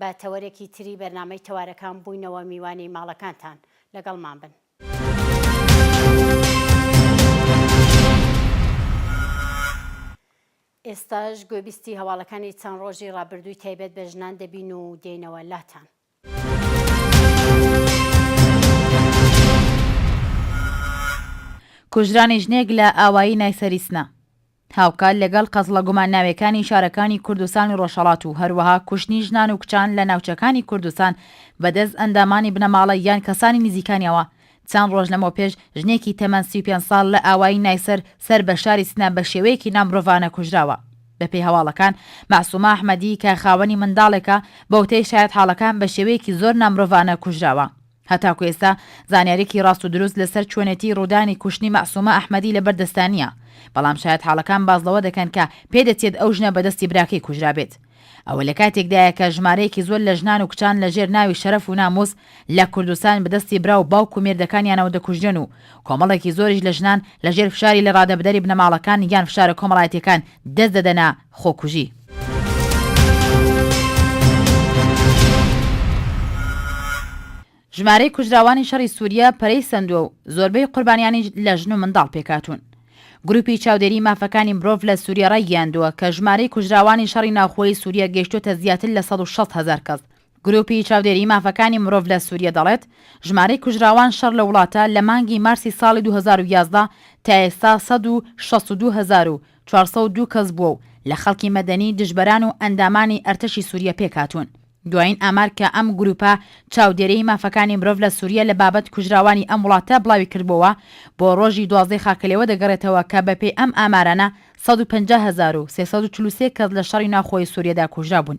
بە تەوەرێکی تری بەرنامەی تەوارەکان بووینەوە میوانی ماڵەکانتان. لەگەڵمان بن. ئێستاش گوێبیستی هەواڵەکانی چەند ڕۆژی ڕابردووی تایبەت بە ژنان دەبین و دێنەوە لاتان. کوژرانی ژنێک لە ئاوایی نایسەری سنە. هاوکات لەگەڵ قەزڵە گومانناوێکانی شارەکانی کوردستان و ڕۆژهەڵات و هەروەها کوشتنی ژنان و کچان لە ناوچەکانی کوردستان بەدەست ئەندامانی بنەماڵە یان کەسانی نزیکانیەوە چەند ڕۆژ لەمەوپێش ژنێکی تەمەن سی و پێنج ساڵ لە ئاوایی نایسەر سەر بە شاری سنە بە شێوەیەکی نامرۆڤانە کوژراوە. بەپێی هەواڵەکان مەعسومە ئەحمەدی کە خاوەنی منداڵێکە بەوتەی شایەتحاڵەکان بە شێوەیەکی زۆر نامرۆڤانە کوژراوە. هەتاکو ئێستا زانیاریکی ڕاست و دروست لەسەر چۆنێتی ڕوودانی کوشتنی مەعسومە ئەحمەدی لەبەر دەستدا نییە، بەڵام شایەتحاڵەکان باس لەوە دەکەن کە پێدەچێت ئەو ژنە بەدەستی براکەی کوژرابێت. ئەوە لەکاتێکدایە کە ژمارەیەکی زۆر لە ژنان و کچان لەژێر ناوی شەرەف و نامووس لە کوردستان بەدەستی برا و باوک و مێردەکانیانەوە دەکوژرێن و کۆمەڵێکی زۆریش لە ژنان لەژێر فشاری لەڕادەبدەری بنەماڵەکان یان فشارە کۆمەڵایەتییەکان دەست دەدەنە خۆکوژی. ژمارەی کوژراوانی شەڕی سووریە پەرەی سەندووە و زۆربەی قوربانیانیش لە ژن و منداڵ پێکهاتوون. گروپی چاودێری مافەکانی مرۆڤ لە سووریە ڕایگەیاندووە کە ژمارەی کوژراوانی شەڕی ناوخۆیی سووریە گەیشتووەتە زیاتر لە سەد و شەست هەزار کەس، گروپی چاودێری مافەکانی مرۆڤ لە سووریە دەڵێت، ژمارەی کوژراوان شەڕ لە وڵاتە لە مانگی مارسی ساڵی دوو هەزار و یازدە تا ئێستا سەد و شەست و دوو هەزار و چوار سەد و دوو کەس بووە و لە خەڵکی مەدەنی، دژبەران و ئەندامانی ئەرتەشی سووریە پێکهاتوون. دوایین ئامار کە ئەم گروپە چاودێریی مافەکانی مرۆڤ لە سووریە لە بابەت کوژراوانی ئەم وڵاتە بڵاوی کردبووەوە، بۆ ڕۆژی دوازدەی خاکەلێوە دەگەڕێتەوە کە بەپێی ئەم ئامارانە سەد و پەنجا هەزار و سێ سەد و چل و سێ کەس لە شەڕی ناوخۆی سووریەدا کوژرابوون.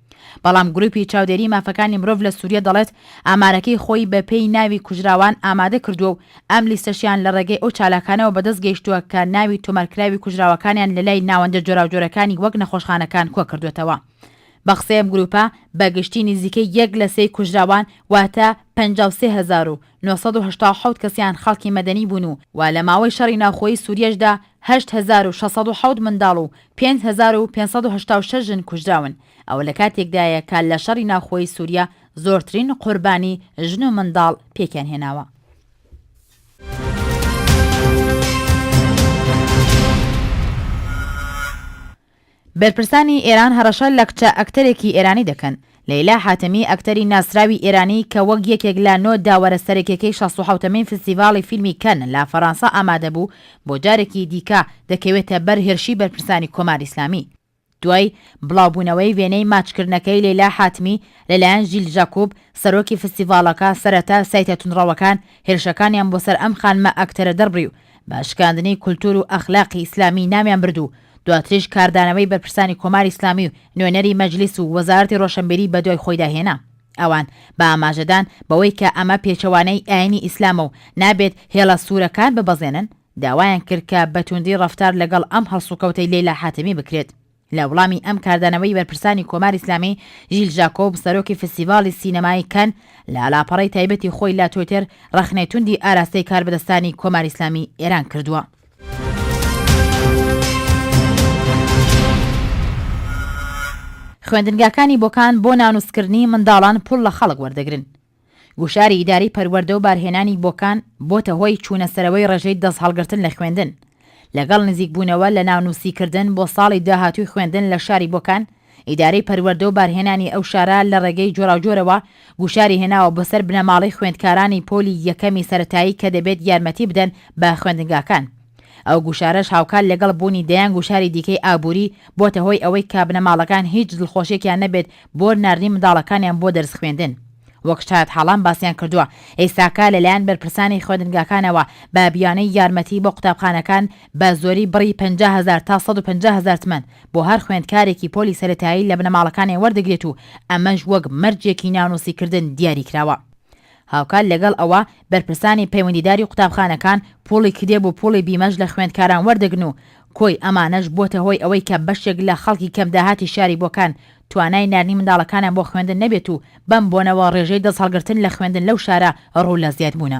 بەڵام گروپی چاودێری مافەکانی مرۆڤ لە سوریە دەڵێت ئامارەکەی خۆی بە پێی ناوی کوژراوان ئامادە کردووە و ئەم لیستەشیان لە ڕێگەی ئەو چالاکانەوە بەدەست گەیشتووە کە ناوی تۆمارکراوی کوژراوەکانیان لە لای ناوەندە جۆراوجۆرەکانی وەک نەخۆشخانەکان کۆ کردووەتەوە بە قسەی ئەم گروپە بە گشتی نزیکەی یەک لە سێی کوژراوان واتە پەنجا و سێ هەزار و نۆ سەد و هەشتا و حەوت کەسیان خەڵکی مەدەنی بوون و وە لە ماوەی شەڕی ناوخۆیی سووریەشدا هەشت هەزار و شەش سەد و حەوت منداڵ و پێنج هەزار و پێنج سەد و هەشتا و شەش ژن کوژراون ئەوە لە کاتێکدایە کە لە شەڕی ناوخۆیی سووریە زۆرترین قوربانی ژن و منداڵ پێکیان هێناوە. بەرپرسانی ئێران هەڕەشە لە کچە ئەکتەرێکی ئێرانی دەکەن، لەیلا حاتەمی ئەکتەری ناسراوی ئێرانی کە وەک یەکێک لە نۆ داوەرە سەرەکیەکەی شەست و حەوتەمین فستیڤاڵی فیلمی کەن لە فەڕانسە ئامادە بوو بۆ جارێکی دیکە دەکەوێتە بەر هێرشی بەرپرسانی کۆماری ئیسلامی. دوای بڵاوبوونەوەی وێنەی ماچکردنەکەی لەیلا حاتمی لەلایەن ژیل ژاکوب سەرۆکی فستیڤاڵەکە سەرەتا سایتە توندڕەوەکان هێرشەکانیان بۆ سەر ئەم خانمە ئەکتەرە دەربڕی و بە شکاندنی کولتوور و ئەخلاقی ئیسلامی ناویان برد و دواتریش کاردانەوەی بەرپرسانی کۆماری ئیسلامی و نوێنەری مەجلیس و وەزارەتی ڕۆشنبیری بەدوای خۆیدا هێنا. ئەوان بە ئاماژەدان بەوەی کە ئەمە پێچەوانەی ئایینی ئیسلامە و نابێت هێڵە سوورەکان ببەزێنن، داوایان کرد کە بە توندی ڕەفتار لەگەڵ ئەم هەڵسوکەوتەی لەیلا حاتەمی بکرێت. لە وڵامی ئەم کاردانەوەی بەرپرسانی کۆماری ئیسلامی، ژیل ژاکۆب، سەرۆکی فیستیڤاڵی سینەمایی کەن، لە لاپەڕەی تایبەتی خۆی لە توێتێر ڕەخنەی توندی ئاراستەی کاربەدەستانی کۆماری ئیسلامی ئێران کردووە. خوێندنگاکانی بۆکان بۆ نانوسکردنی منداڵان پوڵ لە خەڵک وەردەگرن گوشاری ئیداری پەروەەردە و بارهێنانی بۆکان بۆتە هۆی چوونە سەرەوەی ڕێژەی دەست هەڵگرتن لە خوێندن لەگەڵ نزیکبوونەوە لە ناونووسیکردن بۆ ساڵی داهاتووی خوێندن لە شاری بۆکان ئیدارەی پەروەردە و بارهێنانی ئەو شارە لە ڕێگەی جۆراوجۆرەوە گوشاری هێناوە بۆ سەر بنەماڵەی خوێندکارانی پۆلی یەکەمی سەرەتایی کە دەبێت یارمەتی بدەن بە خوێندنگاکان. ئەو گوشارەش هاوکات لەگەڵ بوونی دەیان گوشاری دیکەی ئابووری، بۆتە هۆی ئەوەی کە بنەماڵەکان هیچ دڵخۆشیەکیان نەبێت بۆ ناردنی منداڵەکانیان بۆ دەرس خوێندن. وەک شایەتحاڵان باسیان کردووە، ئێستاکە لەلایەن بەرپرسانی خوێندنگاکانەوە بە بیانووی یارمەتی بۆ قوتابخانەکان، بە زۆری بڕی پەنجا هەزار تا سەد و پەنجا هەزار تمەن بۆ هەر خوێندکارێکی پۆلی سەرەتایی لە بنەماڵەکانیان وەردەگرێت و ئەمەش وەک مەرجێکی ناونووسیکردن دیاری کراوە. هاوکات لەگەڵ ئەوە بەرپرسانی پەیوەندیداری قوتابخانەکان پوڵی کتێب و پوڵی بیمەش لە خوێندکاران وەردەگرن و کۆی ئەمانەش بووەتە هۆی ئەوەی کە بەشێک لە خەڵکی کەم داهاتی شاری بۆکان توانای ناردنی منداڵەکانیان بۆ خوێندن نەبێت و بەم بۆنەوە ڕێژەی دەستهەڵگرتن لە خوێندن لەو شارە ڕوو لە زیادبوونە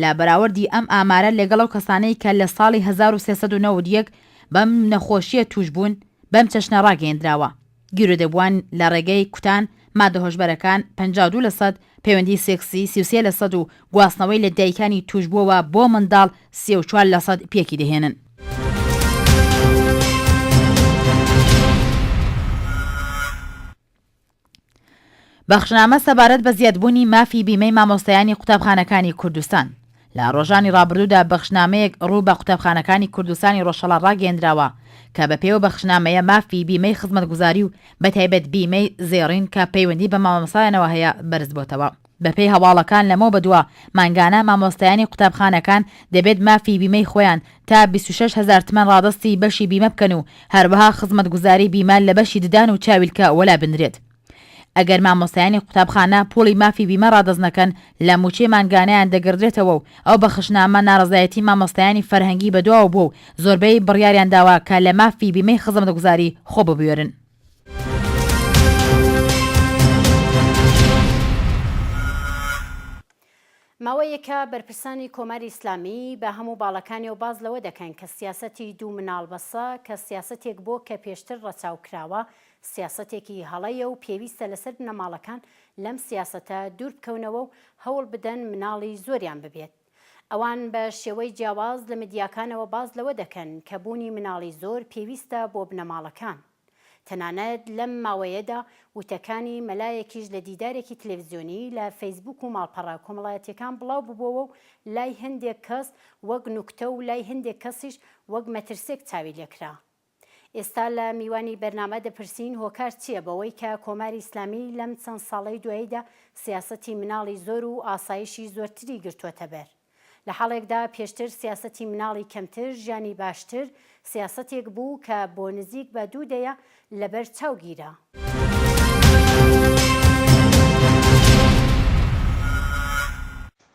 لە بەراوردی ئەم ئامارە لەگەڵ ئەو کەسانەی کە لە ساڵی هەزار و سێ سەد و نەوەد و یەک بەم نەخۆشییە تووشبوون، بەم چەشنە ڕاگەیەندراوە، گیرۆدەبووان لە ڕێگەی کوتان ماددە هۆشبەرەکان پەنجا و دوو لەسەد، پەیوەندیی سێکسی سی و سێ لەسەد و گواستنەوەی لە دایکانی تووشبووەوە بۆ منداڵ سێ و چوار لەسەد پێکی دەهێنن. بەخشنامە سەبارەت بە زیادبوونی مافی بیمەی مامۆستایانی قوتابخانەکانی کوردستان لە ڕۆژانی ڕابردوودا بەخشنامەیەک ڕوو بە قوتابخانەکانی کوردستانی ڕۆژهەڵا ڕاگەیەندراوە کە بە پێیو بەخشنامەیە مافی بیمەی خزمەتگوزاری و بەتایبەت بیمەی زێڕین کە پەیوەندی بە مامۆستایانەوە هەیە بەرزبۆتەوە. بەپێی هەواڵەکان لەمەو بەدوا مانگانە مامۆستایانی قوتابخانەکان دەبێت مافی بیمەی خۆیان تا بیست و شەش هەزار تمەن ڕادەستی بەشی بیمە بکەن و هەروەها خزمەتگوزاری بیمە لە بەشی ددان و چاویلکە وەلا بنرێت ئەگەر مامۆستایانی قوتابخانە پوڵی مافی بیمە ڕادەست نەکەن لە موچەی مانگانەیان دەگردرێتەوە و ئەو بەخشنامە ناڕەزایەتی مامۆستایانی فەرهەنگی بەدواوە بووە و زۆربەی بڕیاریان داوە کە لە مافی بیمەی خزمەتگوزاری خۆ ببوێرن. ماوەیەکە بەرپرسانی کۆماری ئیسلامی بە هەموو باڵەکانیەوە باس لەوە دەکەن کە سیاسەتی دوو مناڵ بەسە کە سیاسەتێک بۆ کە پێشتر ڕەچاو کراوە سیاسەتێکی هەڵەیە و پێویستە لەسەر بنەماڵەکان لەم سیاسەتە دوور بکەونەوە و هەوڵ بدەن مناڵی زۆریان ببێت. ئەوان بە شێوەی جیاواز لە میدیاکانەوە باس لەوە دەکەن کە بوونی مناڵی زۆر پێویستە بۆ بنەماڵەکان. تەنانەت لەم ماوەیەدا وتەکانی مەلایەکیش لە دیدارێکی تلێڤزیۆنی لە فەیسبووک و ماڵپەڕە کۆمەڵایەتییەکان بڵاو ببووەوە و لای هەندێک کەس وەک نوکتە و لای هەندێک کەسیش وەک مەترسێک چاوی لێکرا. ئێستا لە میوانی بەرنامە دەپرسین هۆکار چیە بەوەی کە کۆماری ئیسلامی لەم چەند ساڵەی دواییدا سیاسەتی مناڵی زۆر و ئاسایشی زۆرتری گرتووەتە بەر لە حاڵێکدا پێشتر سیاسەتی مناڵی کەمتر ژیانی باشتر سیاسەتێک بوو کە بۆ نزیک بە دوو دەیە لە بەر چاو گیرا.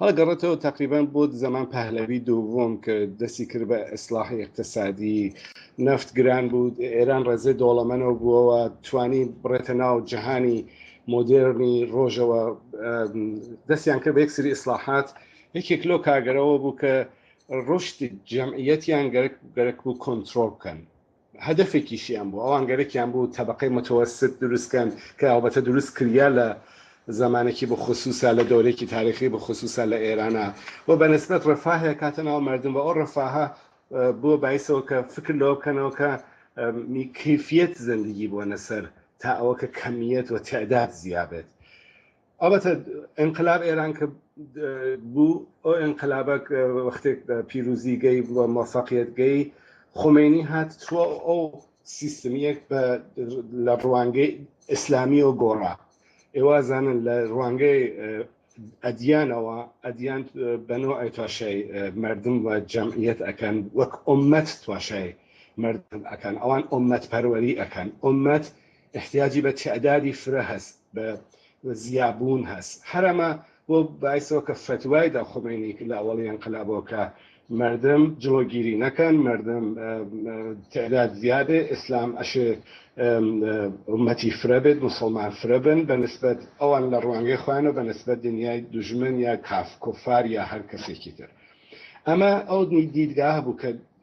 هەڵگەڕێتەوە تقریبان بۆ زەمان پهلەوی دووم کە دەستی کرد بە ئیسلاحی اقتصادی نفت گران بوو ئێران ڕێزێ دۆڵەمەنەوە بووەوە توانی بڕێتە ناو جەهانی مۆدێرنی ڕۆژەوە دەستیان کرد بە یەک سری ئیسلاحات یەکێک لۆ کاگەرەوە بوو کە ڕشتی جەمعیەتیان گەرک گەرک بوو کۆنتترۆل بکەن هەدەفێکیشیان بوو ئەوان گەرەکیان بوو تەبەقەی متوسط دروست کەن کە ئەڵبەتە دروست کریا لە زەمانێکی بخصوصا لە دەورێکی تاریخی بخصوصا لە ئێرانا و بە نسبەت رفاه ئەکاتە ناو مەردم و ئەو رفاهە بووە بایس ئەوە کە فکر لەوە بکەنەوە کە کەیفیەت زندگی بۆنە سەر تا ئەوە کە کەمیەت و تعداد زیا بێت. ئەڵبەتە ئینقلاب ئێران کە بوو ئەو ئینقلابە وەختێک پیرروزیگەی بووە مەفەقیتگەی خمینی هات چوە ئەو سیستمیەک بە لە ڕوانگەی ئیسلامی و گۆڕا ئێوازانن لە ڕوانگەی ئەدیانەوە ئەدیان بەنەوە ئەی تواشای مردم و جەمعیت ئەکەن وەک ئۆمەت تواشای مردم ئەکەن ئەوان ئۆمەت پەروەری ئەکەن ئۆمەت ئیحتیاجی بە تەعدادی فرە هەس بە زیا بوون هەس هەر ئەمە بۆ بایسەوە کە فەتوای دا خومەینی کە لە ئەوەڵی ئەنقلابەوە کە مردم جڵۆگیری نەکەن مردم تەعداد زیا بێ ئیسلام ئەشێ ئومەتی فرە بێت موسڵمان فرە بن بە نسبەت ئەوان لە ڕوانگەی خۆیان و بە نسبەت دنیای دوژمن یا کاف کفار یا هەر کەسێکی تر ئەمە ئەو دیدگا هەبوو کە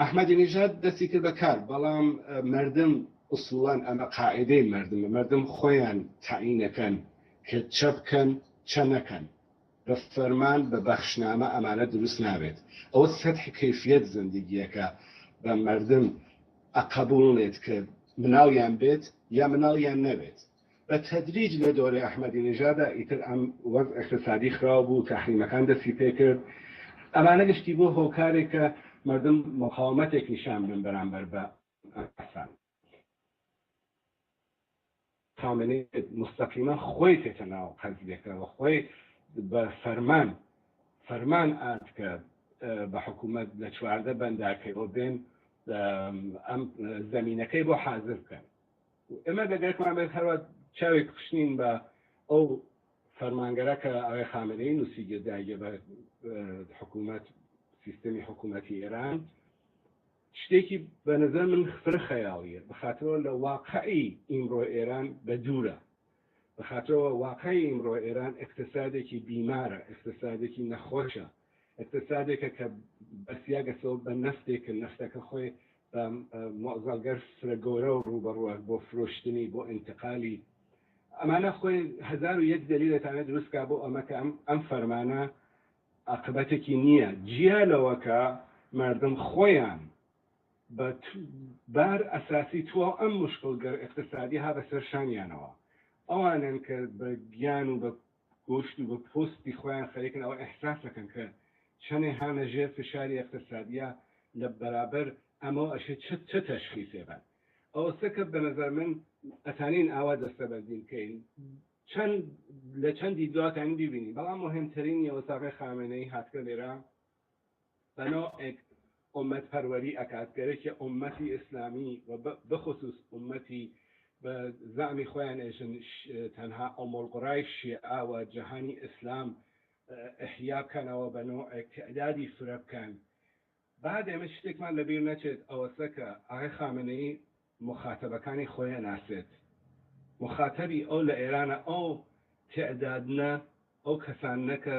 ئەحمەدی نیژاد دەستی کرد بە کار بەڵام مردم ئوسوڵەن ئەمە قاعیدەی مردمە مردم خۆیان تەعینەکەن کە چە بکەن چە نەکەن بە فەرمان بە بەخشنامە ئەمانە دروست نابێت ئەوە سەتح کەیفیەت زندگیەکە بە مردم ئەقەبوڵنێت کە مناڵیان بێت یا مناڵیان نەبێت. بە تەدریج لە دۆرەی ئەحمەدی نژادا ئیتر ئەم وەزع ئیقتسادی خراو بوو، تەحریمەکان دەستی پێکرد، ئەمانە گشتی بووە هۆکارێک کە مەردم مقاومەتێک نیشان بدەن بەرامبەر بە ئەسەد. خامنەی موستەقیما خۆی چێتە ناو حزبێکە و خۆی بە فەرمان فەرمان ئات کە بە حکوومەت لە چواردە بەنداکەوە بێن ئەم زەمینەکەی بۆ حازر بکەن. ئێمە بە دەرکمان بێت هەروا چاوێک پشنین بە ئەو فەرمانگەرە کە ئاوێ خامەنەی نووسی گرداگە بە حکوومەت سیستمی حکوومەتی ئێران شتێکی بە نظر من فرە خەیاڵیە بخاتەوە لە واقعی ئیمڕۆ ئێران بە دوورە بە خاترەوە واقعی ئیمڕۆ ئێران ئێقتێسادێکی بیمارە، ئێقتێسادێکی نەخۆشە، ئێقتێسادێکە کە بەسیاگەسەوە بە نەفتێک کە نەفتەکە خۆی بە مۆزەڵگەر فرە گۆرەوە ڕووبەڕووە بۆ فرۆشتنی، بۆ ئینتقالی. ئەمانە خۆی هەزار و یەک دەلیل ئەتانێ دروست کا بۆ ئەمە کە ئەم ئەم فەرمانە ئاقبەتێکی نییە جیا لەوە کە مەردم خۆیان بە بار ئەساسی تواو ئەم مشکل گەر ئیقتسادی ها بە سەر شانیانەوە ئەوانەن کە بە گیان و بە گۆشت و بە پۆستی خۆیان خەریکن ئەوە ئیحساس ئەکەن کە چەنێ هانە ژێر فشاری ئیقتسادیە لە بەرابەر ئەمەو ئەشێ چ چ تەشخیسێ بەن ئەوەستە کە بە نەزەر من ئەتانین ئاوا دەستەبەندی بکەین چەن لە چەن دیدگاو ئەتانین بیبینین بەڵام موهیم تەرینی ئەوەستا ئاغای خامەنەی هاتگە لێرە بنۆ ێک ئۆمەت پەروەری ئەکات گەرەکیە ئۆمەتی ئیسلامی و بخسوس ئۆمەتی بە زەعمی خۆیان ئێژن تەنها ئۆمۆلقڕای شێعە و جەهانی ئیسلام ئحیا بکەنەوە بە نۆ ێک تئدادی فرە بکەن با دێمە شتێکمان لە بیر نەچێت ئەوەسە کە ئاغای خامنەیی موخاتەبەکانی خۆی ئەناسێت موخاتەبی ئەو لە ئێرانە ئەو تئدادنە ئەو کەساننە کە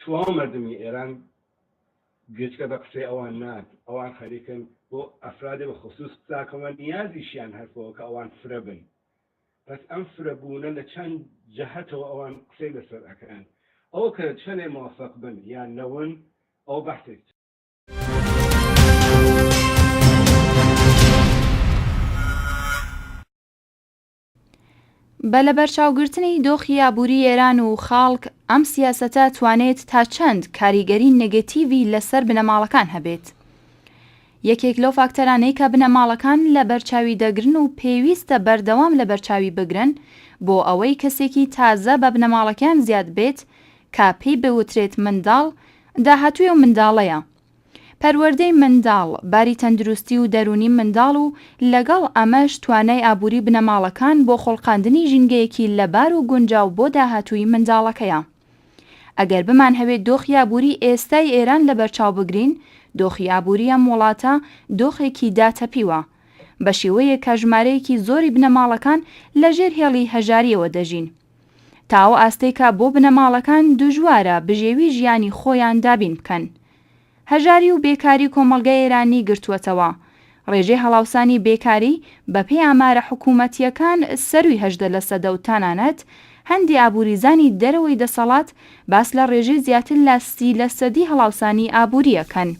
تواو مەردمی ئێران گوێچکە بە قسەی ئەوان نات ئەوان خەریکن بۆ ئەفرادی بە خصوص بتاکەوە نیازیشیان هەر پەوە کە ئەوان فرە بن بەس ئەم فرە بوونە لە چەند جەهەتەوە ئەوان قسەی لە سەر ئەکەن ئەو کە چەنێ موفق بن یان نەون ئەو بەحسێک بە لەبەرچاوگرتنی دۆخی ئابووری ئێران و خەڵک، ئەم سیاسەتە توانێت تا چەند کاریگەری نێگەتیڤی لەسەر بنەماڵەکان هەبێت؟ یەکێک لەو فاکتەرانەی کە بنەماڵەکان لەبەرچاوی دەگرن و پێویستە بەردەوام لەبەرچاوی بگرن بۆ ئەوەی کەسێکی تازە بە بنەماڵەکەیان زیاد بێت کە پێی بوترێت منداڵ، داهاتووی ئەو منداڵەیە. پەروەردەی منداڵ، باری تەندروستی و دەروونی منداڵ و لەگەڵ ئەمەش توانای ئابووری بنەماڵەکان بۆ خوڵقاندنی ژینگەیەکی لەبار و گونجاو بۆ داهاتووی منداڵەکەیە. ئەگەر بمانهەوێ دۆخی ئابووری ئێستای ئێران لەبەرچاو بگرین، دۆخی ئابووری ئەم وڵاتە دۆخێکی داتەپیوە، بەشیوەیەک کە ژمارەیەکی زۆری بنەماڵەکان لەژێر هێڵی هەژارییەوە دەژین. تا ئەو ئاستەی کە بۆ بنەماڵەکان دژوارە بژێوی ژیانی خۆیان دابین بکەن. هەژاری و بێکاری کۆمەڵگای ئێرانی گرتووەتەوە. ڕێژەی هەڵاوسانی بێکاری بە پێی ئامارە حکوومەتییەکان سەرووی هەژدە لە سەدە و تەنانەت هەندێ ئابووریزانی دەرەوەی دەسەڵات باس لە ڕێژەی زیاتر لە سی لە سەدی هەڵاوسانی ئابووری ئەکەن.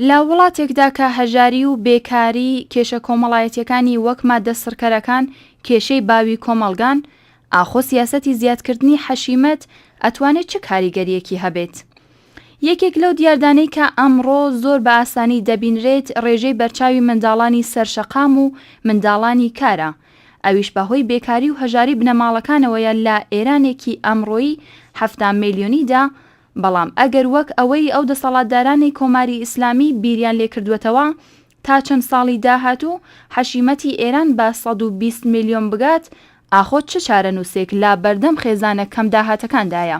لە وڵاتێکدا کە هەژاری و بێکاری کێشە کۆمەڵایەتییەکانی وەک ماددە سڕکەرەکان کێشەی باوی کۆمەڵگان، ئاخۆ سیاسەتی زیادکردنی حەشیمەت ئەتوانێت چ کاریگەرییەکی هەبێت؟ یەکێک لەو دیاردانەی کە ئەمڕۆ زۆر بە ئاسانی دەبینرێت ڕێژەی بەرچاوی منداڵانی سەرشەقام و منداڵانی کارە، ئەویش بەهۆی بێکاری و هەژاری بنەماڵەکانەوەیە لە ئێرانێکی ئەمڕۆی حەفتا ملیۆنیدا بەڵام ئەگەر وەک ئەوەی ئەو دەسەڵاتدارانی کۆماری ئیسلامی بیریان لێ کردووەتەوە تا چەند ساڵی داهاتوو حەشیمەتی ئێران بە سەد و بیست ملیۆن بگات، ئاخۆ چ چارەنووسێک لە بەردەم خێزانە کەم داهاتەکاندایە؟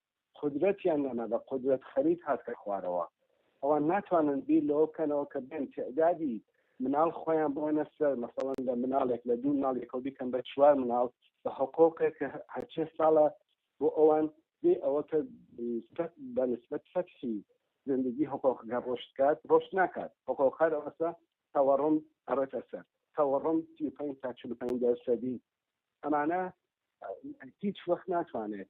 قودرەتیان نەما بە قودرەت خەریت هاتکە خوارەوە ئەوان ناتوانن بیر لەوە بکەنەوە کە بێن تیعدادی مناڵ خۆیان بۆنە سەر مەسەڵەن لە مناڵێک لە دوو مناڵ یەکەو بیکەن بە چوار مناڵ بە حقۆقێک کە هەرچێ ساڵە بۆ ئەوان بێ ئەوە کە بە نسبەت فەتحی زندگی حقۆقەکە ڕۆشت کات ڕۆشت ناکات حقۆقەکار ئەوەسە تەوەڕم ئەڕێتە سەر تەوەڕم سی پێنج تا چل پێنج دەرسەدی ئەمانە هیچ وەخت ناتوانێت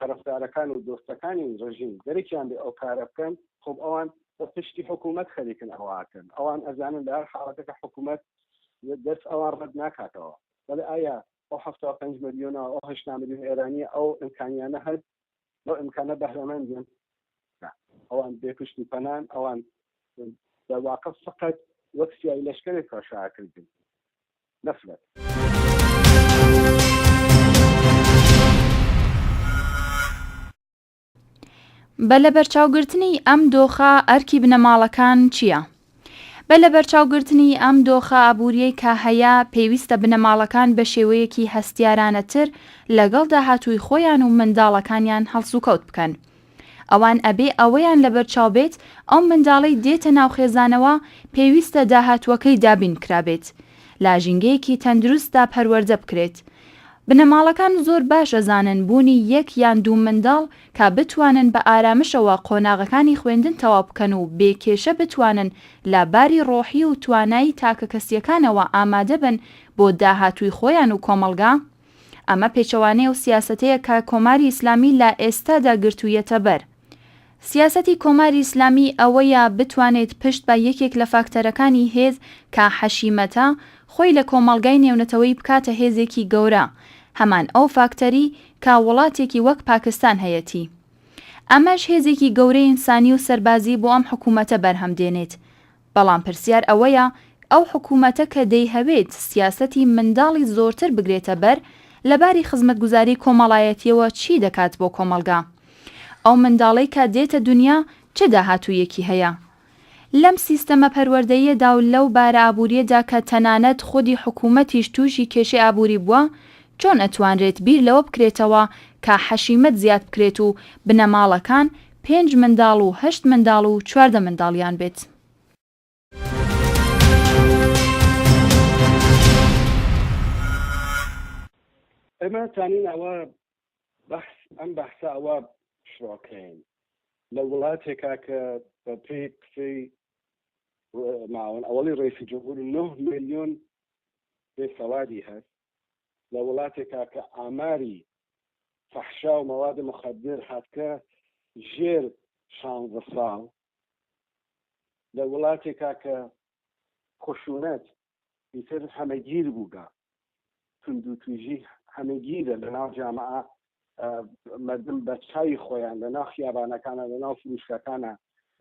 تەرەفدارەکان و دۆستەکانی ڕژیم دەرەکیان بێ ئەو کارە بکەن خۆ ئەوان بە پشتی حکوومەت خەریکن ئەوە ئەکەن ئەوان ئەزانن لە هەر حاڵەتەکە حکوومەت دەست ئەوان ڕەت ناکاتەوە بەڵێ ئایا ئەو حەفتا و پێنج ملیۆنە ئەو هەشتا ملیۆن ئێرانیە ئەو ئیمکانیانە هەست لەو ئیمکانە بەهرەمەندن ئەوان بێ پشت و پەنان ئەوان دەواقع فقط وەک سیای لەشکرێک کەشاکردن نەفرەت. بە لەبەرچاوگرتنی ئەم دۆخە ئەرکی بنەماڵەکان چییە؟ بە لەبەرچاوگرتنی ئەم دۆخە ئابووریەی کە هەیە پێویستە بنەماڵەکان بە شێوەیەکی هەستیارانەتر لەگەڵ داهاتووی خۆیان و منداڵەکانیان هەڵسوکەوت بکەن. ئەوان ئەبێ ئەوەیان لەبەرچاو بێت ئەو منداڵەی دێتە ناو خێزانەوە پێویستە داهاتووەکەی دابین کرابێت لە ژینگەیەکی تەندروستدا پەروەردە بکرێت بنەماڵەکان زۆر باش ئەزانن بوونی یەک یان دوو منداڵ کە بتوانن بە ئارامشەوە قۆناغەکانی خوێندن تەواو بکەن و بێ کێشە بتوانن لە باری ڕۆحی و توانایی تاکەکەسیەکانەوە ئامادەبن بۆ داهاتووی خۆیان و کۆمەڵگا ئەمە پێچەوانەی ئەو سیاسەتەیە کە کۆماری ئیسلامی لە ئێستادا گرتوویەتە بەر. سیاسەتی کۆماری ئیسلامی ئەوەیە بتوانێت پشت بە یەکێک لە فاکتەرەکانی هێز کە حەشیمەتە، خۆی لە کۆمەڵگای نێونەتەوەیی بکاتە هێزێکی گەورە، هەمان ئەو فاکتەری کە وڵاتێکی وەک پاکستان هەیەتی. ئەمەش هێزێکی گەورەی ئینسانی و سەربازی بۆ ئەم حکوومەتە بەرهەم دێنێت. بەڵام پرسیار ئەوەیە ئەو حکومەتە کە دەیهەوێت سیاسەتی منداڵی زۆرتر بگرێتە بەر لە باری خزمەتگوزاری کۆمەڵایەتیەوە چی دەکات بۆ کۆمەڵگا؟ ئەو منداڵەی کە دێتە دونیا چ داهاتوویەکی هەیە لەم سیستەمە پەروەردەییەدا و لەو بارە ئابوریەدا کە تەنانەت خودی حکومەتیش توشی کێشەی ئابوری بووە چۆن ئەتوانرێت بیر لەوە بکرێتەوە کە حەشیمەت زیاد بکرێت و بنەماڵەکان پێنج منداڵ و هەشت منداڵ و چواردە منداڵیان بێت؟ ئێمە توانین ئەوە بەحس ئەم بەحسە ئەوە شڕۆکەین لە وڵاتێکا کە بە پێی قسەی ماون ئەوەڵی ڕێسی جمهور 9 میلیۆن بێسەوادی هەست لە وڵاتێکا کە ئاماری فەحشا و مەواد مخدر هاتکە ژێر شانزە ساڵ لە وڵاتێکا کە خشونەت ئیتر هەمەگیر بووگە توندو تویژی هەمەگیرە لە ناو جامعە مردم بە چاوی خۆیان لە ناو خیابانەکانە لە ناو فروشکەکانە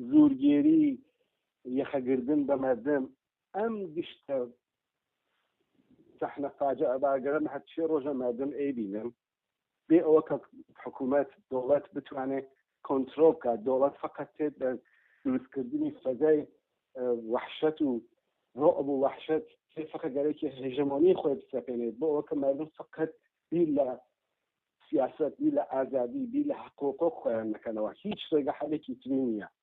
زورگێری یەخەگردن بە مردم ئەم گشتە سەحنە فاجعە باگەرم هەرچی ڕۆژە مردم ئەیبینم بێ ئەوە کە حکوومەت دەوڵەت بتوانێت کۆنتترۆل بکات دەوڵەت فقط تێت بە دروستکردنی فەزای وحشت و ڕۆب و وحشت تێ فقە گەرەێکی هێژەمۆنی خۆی بسەپێنێت بۆ ئەوە کە مردم فقط بیر لە سیاست بیر لە ئازادی بیر لە حقۆقۆ خۆیان نەکەنەوە هیچ ڕێگە حەلێکی تری نییە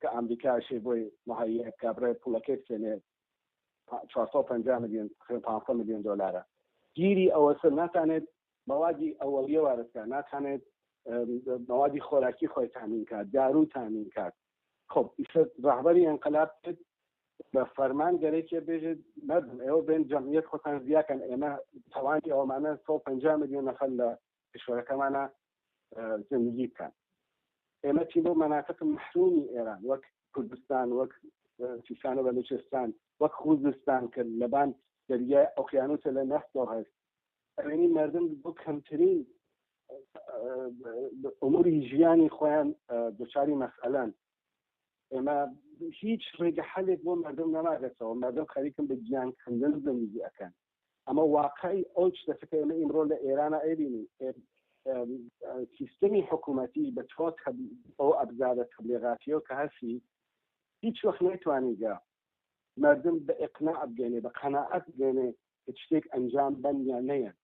کە ئامریکاشی بۆی مەهەییە بکا بڕێ پوڵەکەی بسێنێ چوار سەد و پەنجا ملیۆن خوێ پانسەد ملیۆن دۆلارە گیری ئەوەسە ناتانێت مەوادی ئەوەڵیە وارەکە ناتانێت مەوادی خۆراکی خۆی تامین کات دارو تامین کات خۆب ئیسە ڕهبەری ئەنقلاب بە فەرمان گەرەێکێ بێژێت مردم ئێوە بێن جەمیت خۆتان زیاکەن ئێمە تەوانی ئەومانە 150 ملیۆن نەفەر لە کشوەرەکەمانە زندگی بکەن ئێمە چی بۆ مەناتق محرومی ئێران وەک کوردستان وەک سیستانە بەلوچستان وەک خوزستان کە لەبان دەریای ئۆقیانوسە لە نەفتەوە هەست ئەوێنی مردم بۆ کەمترین ئەموری ژیانی خۆیان دوچاری مەسئلەن ئێمە هیچ ڕێگە حەلێک بۆ مردم نەماگەتەوە مردم خەریکم بە گیان کەندن زندگی ئەەکەن ئەمە واقعی ئەو شتەکە کە ئێمە ئیمڕۆ لە ئێرانە ئەبینین سیستمی حکوومەتی بە تۆ ئەو ئەبزارە تبلێغاتیەوە کە هەسی هیچ وەخت نەیتوانیگە مردم بە ئقنا بگەێنێ بە قەنەعەت بگەێنێ کە شتێک ئەنجام بەن یا نەیەن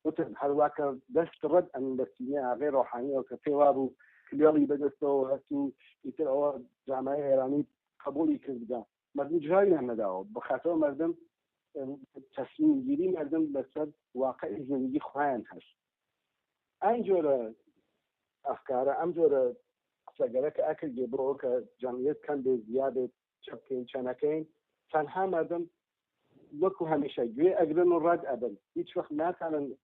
وتم هەروە کە دەست ڕەت ئەم بەسینە ئاغێ ڕۆحانیەوە کە پێوا بوو کلێڵی بەدەستەوە هەست و ئیتر ئەوە جامای ئێرانی قبولی کرددا مردم جوابیان نەداوە بەخاتەوە مردم تەسمیمگیری مردم لەسەر واقعی زندگی خۆیان هەست ئەم جۆرە ئەفکارە ئەم جۆرە قسەگەرە کە ئەکردێ بۆ کە جەمیت کەم بێ زیادێت چەپکەین چەنەکەین تەنها مردم وەکو هەمیشە گوێ ئەگرن و ڕەت ئەبن هیچ وەخت ناتانن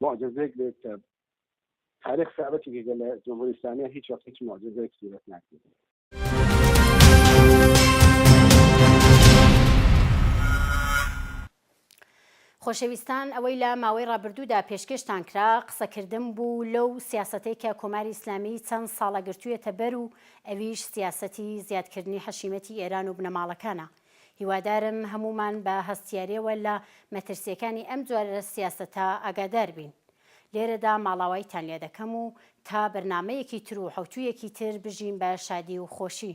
معجزەیەک بێت کە تاریخ ثابتی کە لە جمهوری اسلامی هیچ وقت هیچ معجزەیەک صورت ناکرێت خۆشەویستان ئەوەی لە ماوەی ڕابردوودا پێشکەشتان کرا قسەکردن بوو لەو سیاستەی کە کۆماری ئیسلامی چەند ساڵە گرتوویەتە بەر و ئەویش سیاسەتی زیادکردنی حەشیمەتی ئێران و بنەماڵەکانە هیوادارم هەموومان بە هەستیاریەوە لە مەترسیەکانی ئەم جۆرە سیاسەتە ئاگادار بین. لێرەدا ماڵاوایتان لێ دەکەم و تا بەرنامەیەکی تر و حەوتوویەکی تر بژین بە شادی و خۆشی.